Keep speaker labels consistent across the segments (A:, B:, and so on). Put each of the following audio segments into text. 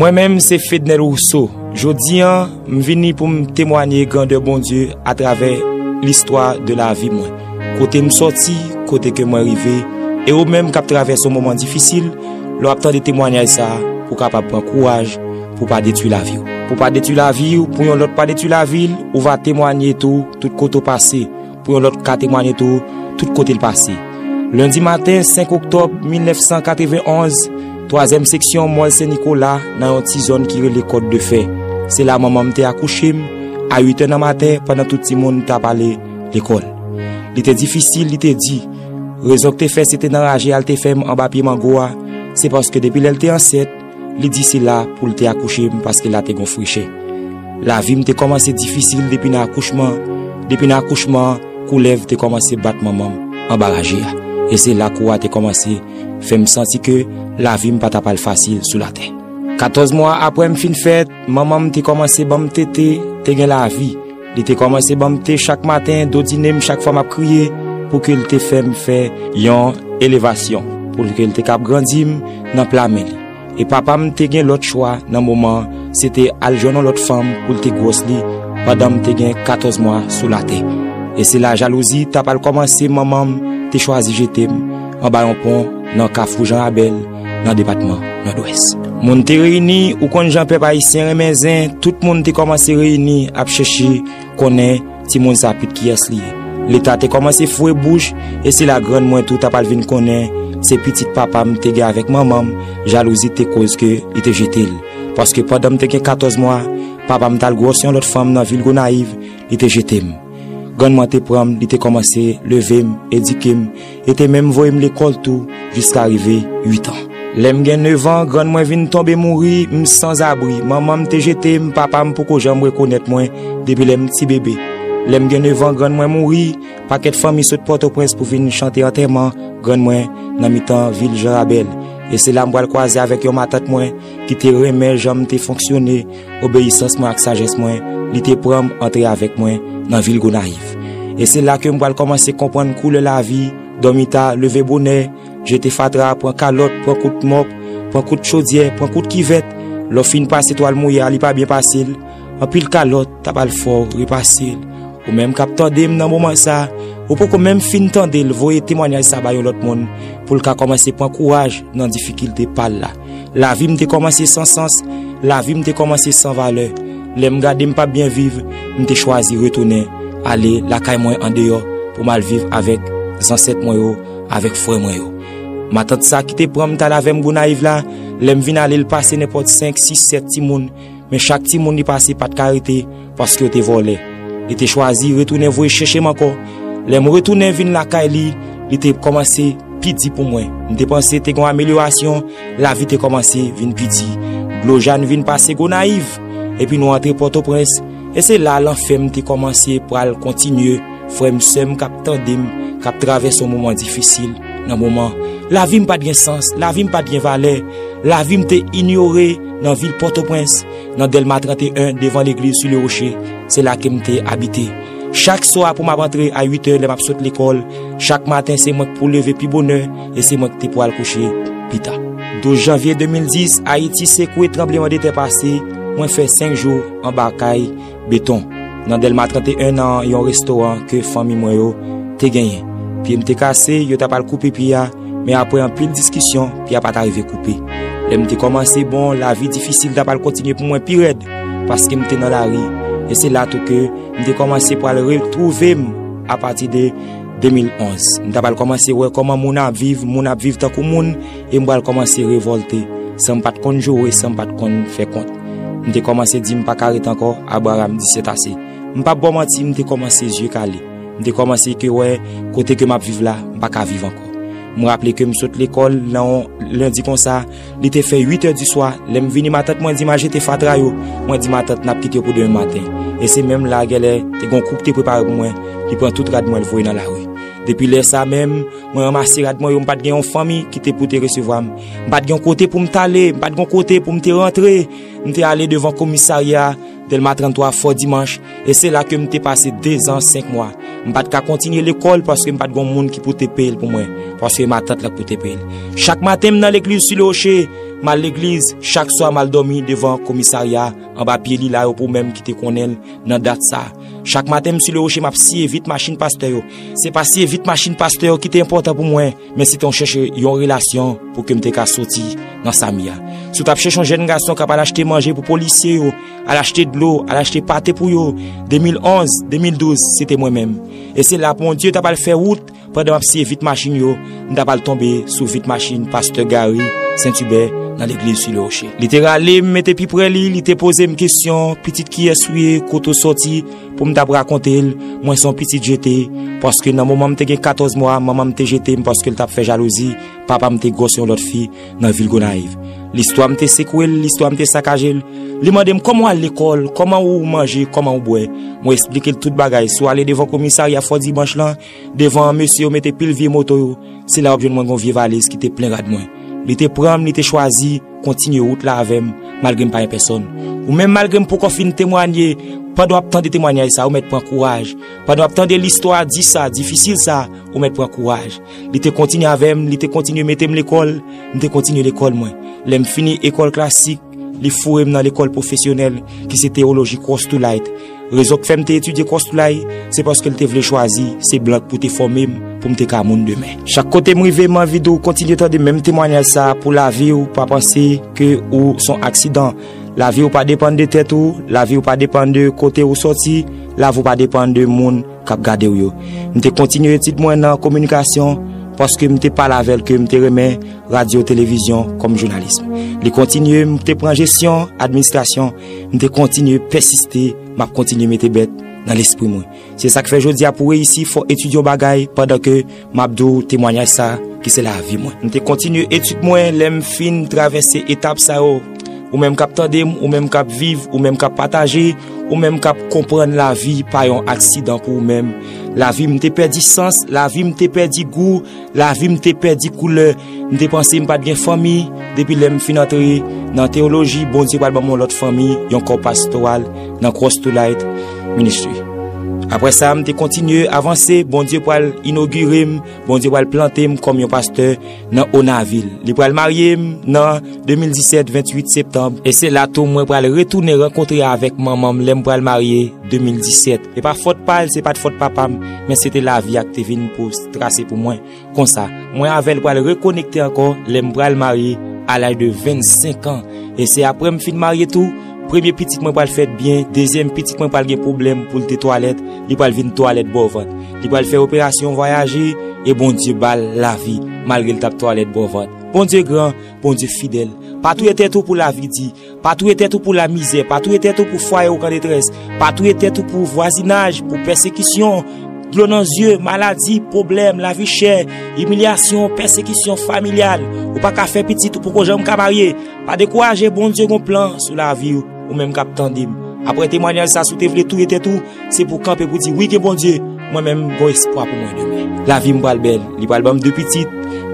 A: Mwen menm se Fednel Rousseau, jodi an m vini pou m temwanye grandè Bondye a travè listwa de lavi mwen. Kote m soti, kote ke mwen rive, e ou menm kap travèse yon moman difisil, lè w ap tande temwanyaj sa, ou kapab pran kouraj. pou w pa detwi lavi w. Pou w pa detwi lavi w, pou yon lòt pa detwi lavi l, ou va temwanye tou tout kote w pase, pou yon lòt ka temwanye tou tout kote l pase. Lendi maten 5 oktòb 1991, twazyèm seksyon Mòl Sen Nikola nan yon ti zòn ki rele Kòt de Fè. Se la manman m te akouche m, a uitè nan maten pandan tout timoun t ap ale lekòl. Li te difisil, li te di. Rezon k te fè se te nan raje a l te fè m anba pye mango a, se paske depi lè l te ansent, Li di se la pou l te akouche m paske la te gon frechè. Lavi m te kòmanse difisil depi nan akouchman an. Depi nan akouchman an, koulèv te kòmanse bat manman m anba raje a. E se la kou a te kòmanse fè m santi ke lavi m pa ta pral fasil sou latè. Katòz mwa apre m fin fèt, manman m te kòmanse ban m tete, te gen lavi. Li te kòmanse ban m te chak maten, dodine m chak fwa m ap kriye, pou ke l te fè m fè yon elevasyon, pou ke l te kab grandi m nan pla men li. E papa m te gen lòt chwa nan moman an, se te al jwenn yon lòt fanm pou l te gwòs li, pandan m te gen katòz mwa sou latè. E se la jalouzi t ap al kòmanse, manman m te chwazi jete m anba yon pon nan Kafou Jan Rabèl, nan depatman Nòdwès. Moun te reyini, ou konn jan pèp ayisyen renmen zen, tout moun te kòmanse reyini ap chèche konnen timoun sa pit kiyès li ye. Leta te kòmanse fouwe bouch e se la grann mwen tou ta pral vin konnen se pitit papa m te gen avèk manman m, jalouzi te koz ke li te jete l. Paske pandan m te gen 14 mwa, papa m t al gwòs yon lòt fanm nan vil Gonayiv, li te jete m. Grann-man te pran m, li te kòmanse leve m, edike m, e te menm voye m lekòl tou jiska rive uitan. Lè m gen nevan, grann mwen vin tonbe mouri, m sanzabri. Manman m te jete m, papa m poko janm rekonèt mwen depi lè m tibebe. Lè m gen nevan, grann mwen mouri, pakèt fanmi sot Pòtoprens pou vin chante antèman grann mwen nan mitan vil Jan Rabèl. E se la m pral kwaze avèk yon matant mwen ki te renmen jan m te fonksyone, obeyisans mwen ak sajès mwen, li te pran m antre avèk mwen nan vil Gonayiv. E se la ke m pral kòmanse konprann koulè lavi, dòmi ta, leve bonè, jete fatra, pran kalòt, pran kout mòp, pran kout chodyè, pran kout kivèt, lè w fin pase twal mouye a li pa byen pase l, anpil kalòt ta bal fò w repase l. Ou menm k ap tande m nan moman sa, ou poko menm fin tande l voye temwanyaj sa ba yon lòt moun pou l ka kòmanse pran kouraj nan difikilte pa l la. Lavi m te kòmanse san sans, lavi m te kòmanse san valè. Lè m gade m pa p byen viv, m te chwazi retounen ale lakay mwen andeyò pou m al viv avèk zansèt mwen yo, avèk frè mwen yo. Matant sa ki te pran m t al avè m Gonayiv la, lè m vin ale l pase nenpòt senk, sis, sèt timoun. Men chak timoun li pase pa t ka rete paske yo te vòlè. Li te chwazi retounen voye chèche m ankò. Lè m retounen vin lakay li, li te kòmanse pi di pou mwen. M te panse te gen yon amelyorasyon, lavi te kòmanse vin pi di. Dlo ja n vin pase Gonayiv, epi nou antre Pòtoprens, e se la lanfè m te kòmanse pral kontinye. Frè m, sè m k ap tande m, k ap travèse yon moman difisil nan moman, lavi m pa t gen sans, lavi m pa t gen valè, lavi m te inyore. Nan vil Pòtoprens, nan Dèlma 31, devan legliz Su Le Roche, se la ke m te abite. Chak swa pou m ap antre a 8 è lè m ap sot lekòl, chak maten se mwen k pou leve pi bonè e se mwen k te pou al kouche pi ta. 12 janvye 2010, Ayiti sekwe tranbleman de tè pase, mwen fè 5 jou anba kay. Beton, nan Dèlma 31 nan yon restoran ke fanmi mwen yo te genyen. Pye m te kase, yo t ap al koupe pye a, men apre anpil diskisyon, pye a pa t arive koupe. Lè m te kòmanse bon, lavi difisil t ap al kontinye pou mwen pi rèd, paske m te nan lari, e se la tou ke m te kòmanse pral retwouve m apati de 2011. M t ap al kòmanse wè kòman moun ap viv, moun ap viv tankou moun. E m pral kòmanse revòlte, san m pa t konn joure, san m pa t konn fè kont. M te kòmanse di m pa ka ret ankò, Abraram di sètase. M pap ba w manti, m te kòmanse zye kale. M te kòmanse ke wè kote ke m ap viv la, m pa ka viv ankò. M raple ke m sot lekòl nan on lendi konsa, li te fè uit è di swa, lè m vini matant mwen di m al jete fatra yo, mwen di matant n ap kite yo pou demen maten. E se menm la gèlè te gon kou k te prepare pou mwen, li pran tout rad mwen l voye nan lari. Depi lè sa menm. Mwen ranmase rad mwen yo, m pa t gen yon fanmi ki te pou te resevwa m. M pa t gen yon kote pou m t ale, m pa t gen yon kote pou m te rantre. M te ale devan komisarya Dèlma 33, Fò Dimanch, e se la ke m te pase dezan senk mwa. M pa t ka kontinye lekòl paske m pa t gen yon moun ki pou te peye l pou mwen, paske matant la k pou te peye l. Chak maten m nan legliz Sou Lewoche, m al legliz, chak swa m al dòmi devan komisarya anba pye lila yo pou menm ki te konnen l nan dat sa. Chak maten m sou le woche m ap siye vit machin pastè yo. Se pa siye vit machin pastè yo ki te enpòtan pou mwen, men se te yon chèche yon relasyon pou ke m te ka soti nan sa m ye a. Si w t ap chèche yon jèn gason k ap al achte manje pou polisye yo, al achte dlo, al achte pate pou yo, 2011, 2012, se te mwen menm. E se la Bondye t ap al fè wout, Pandan map siye vit machin yo, m ta pral tonbe sou vit machin pastè Gary Sentubè nan legliz Sur le Rocher. Li te rale m mete pi prè li, li te poze m kesyon, pitit kiyès ou ye, kote ou sòti, pou m tap rakonte l, mwen se yon pitit jete, paske nan moman m te gen 14 mwa, manman m te jete m paske l tap fè jalouzi, papa m te gwòs yon lòt fi nan vil Gonayiv. Listwa m te sekwe l, listwa m te sakaje l, li mande m kòman w al lekòl, kòman ou manje, kòman ou bwè, mwen esplike l tout bagay, sou ale devan komisarya Fò Dimanch lan, Devan an mesye yo mete pil vye moto yo, se la wap jwenn mwen gen yon vye valiz ki te plen rad mwen. Li te pranm, li te chwazi kontinye wout la avèm malgre m pa yon pèsòn. Ou menm malgre m poko fin temwanye, pandan wap tande temwanyaj sa ou mèt pran kouraj, pandan wap tande listwa di sa, difisil sa, ou mèt pran kouraj. Li te kontinye avèm, li te kontinye metem lekòl, m te kontinye lekòl mwen. Lèm fini ekòl klasik, li fourem nan lekòl pwofesyonèl ki se Théologie Cross to Light. Rezon k fè m te etidye Kòstulay, se paske l te vle chwazi se blan k pou te fòme m pou m te ka moun demen. Chak kote m rive m anvi di w kontinye tande menm temwanyaj sa a pou lavi w pa panse ke ou s on aksidan. Lavi w pa depann de tèt ou, lavi w pa depann de kote ou sòti, lavi w pa depann de moun k ap gade w yo. M te kontinye etid mwen nan kominikasyon paske m te pale avè l ke m te renmen radyo-televizyon kòm jounalism. Li kontinye m te pran jesyon, administrasyon. M te kontinye pèsiste, m ap kontinye mete bèt nan lespri mwen. Se sa k fè jodi a pou w reyisi fò w etidye yon bagay pandan ke m ap di w temwanyaj sa ki se lavi mwen. M te kontinye etid mwen lè m fin travèse etap sa yo. Ou menm k ap tande m, ou menm k ap viv, ou menm k ap pataje, ou menm k ap konprann lavi pa yon aksidan pou ou menm. Lavi m te pèdi sans, lavi m te pèdi gou. Lavi m te pèdi koulè, m te panse m pa t gen fanmi. Depi lè m fin antre nan teyoloji, Bondye pral ban m yon lòt fanmi, yon kò pastoral nan Cross to Light Ministry. Apre sa, m te kontinye avanse, Bondye pral inogire m, Bondye pral plante m kòm yon pastè nan Onavil. Li pral marye m nan 2017, 28 septanm. E se la tou mwen pral retounen rankontre avèk manman m lè m pral marye, 2017. E pa fòt pa l, se pa t fòt papa m. men se te lavi a ki te vin pou trase pou mwen konsa mwen avè l pral rekonekte ankò lè m pral marye a laj de 25 an e se aprè m fin marye tou premye pitit mwen pral fèt byen dezyèm pitit mwen pral gen pwoblèm pou l te twalèt li pral vin twalèt bò vant li pral fè operasyon vwayaje e Bondye ba l lavi malgre l t ap twalèt bò vant Bondye gran Bondye fidèl pa touye tèt ou pou lavi di. Pa touye tèt ou pou lamizè, pa touye tèt ou pou fwaye ou k an detrès, pa touye tèt ou pou vwazinaj, pou pèsekisyon, dlo nan zye, maladi, pwoblèm, lavi chè, imilyasyon, pèsekisyon familyal, ou pa ka fè pitit, ou poko janm ka marye. Pa dekouraje, Bondye gon plan sou lavi ou, ou menm k ap tande m. Aprè temwanyaj sa si w te vle touye tèt ou, Se pou kanpe pou di wi gen Bondye, mwen menm gon espwa pou mwen demen. Lavi m pral bèl, li pral ban m de pitit,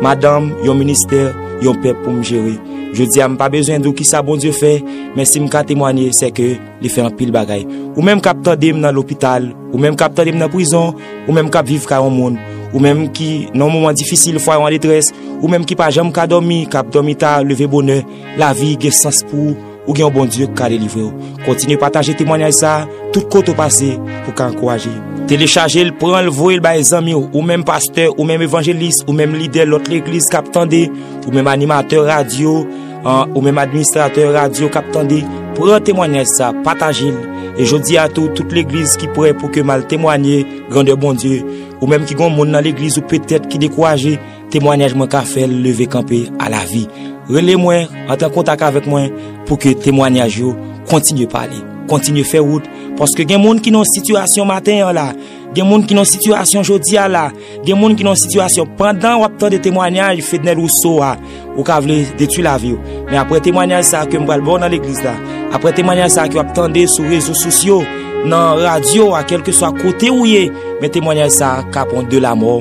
A: madanm, yon ministè, yon pèp pou m jere. Jodi a m pa bezwen di w kisa Bondye fè, men si m ka temwanye se ke li fè anpil bagay. Ou menm k ap tande m nan lopital, ou menm k ap tande m nan prizon, ou menm k ap viv kay yon moun, ou menm ki nan yon moman difisil, fwaye w an detrès, ou menm ki pa janm ka dòmi, k ap dòmi ta, leve bonè, lavi gen sans pou ou. Ou gen yon Bondye k ka delivre w. Kontinye pataje temwanyaj sa tout kote ou pase pou ka ankouraje. Telechaje l, pran l, voye l bay zanmi w, ou menm pastè, ou menm evanjelis, ou menm lidè lòt legliz k ap tande, ou menm animatè radyo, ou menm administratè radyo k ap tande. Pran temwanyaj sa, pataje l. E jodi a tou, tout legliz ki prè pou ke m al temwanye grandè Bondye. Ou menm ki gen yon moun nan legliz ou petèt ki dekouraje, Temwanyaj mwen ka fè l leve kanpe a lavi. Rele mwen, antre an kontak avèk mwen pou ke temwanyaj yo kontinye pale, kontinye fè wout, paske gen moun ki nan yon sitiyasyon maten an la, gen moun ki nan yon sitiyasyon jodi a la, gen moun ki nan yon sitiyasyon pandan w ap tande temwanyaj Fednel Rousseau a, ou ka vle detwi lavi w. Men apre temwanyaj sa ke m pral ba w nan legliz la, apre temwanyaj sa ke w ap tande sou rezo sosyo, nan radyo a, kèlkeswa kote ou ye, men temwanyaj sa ka pran w de lamò.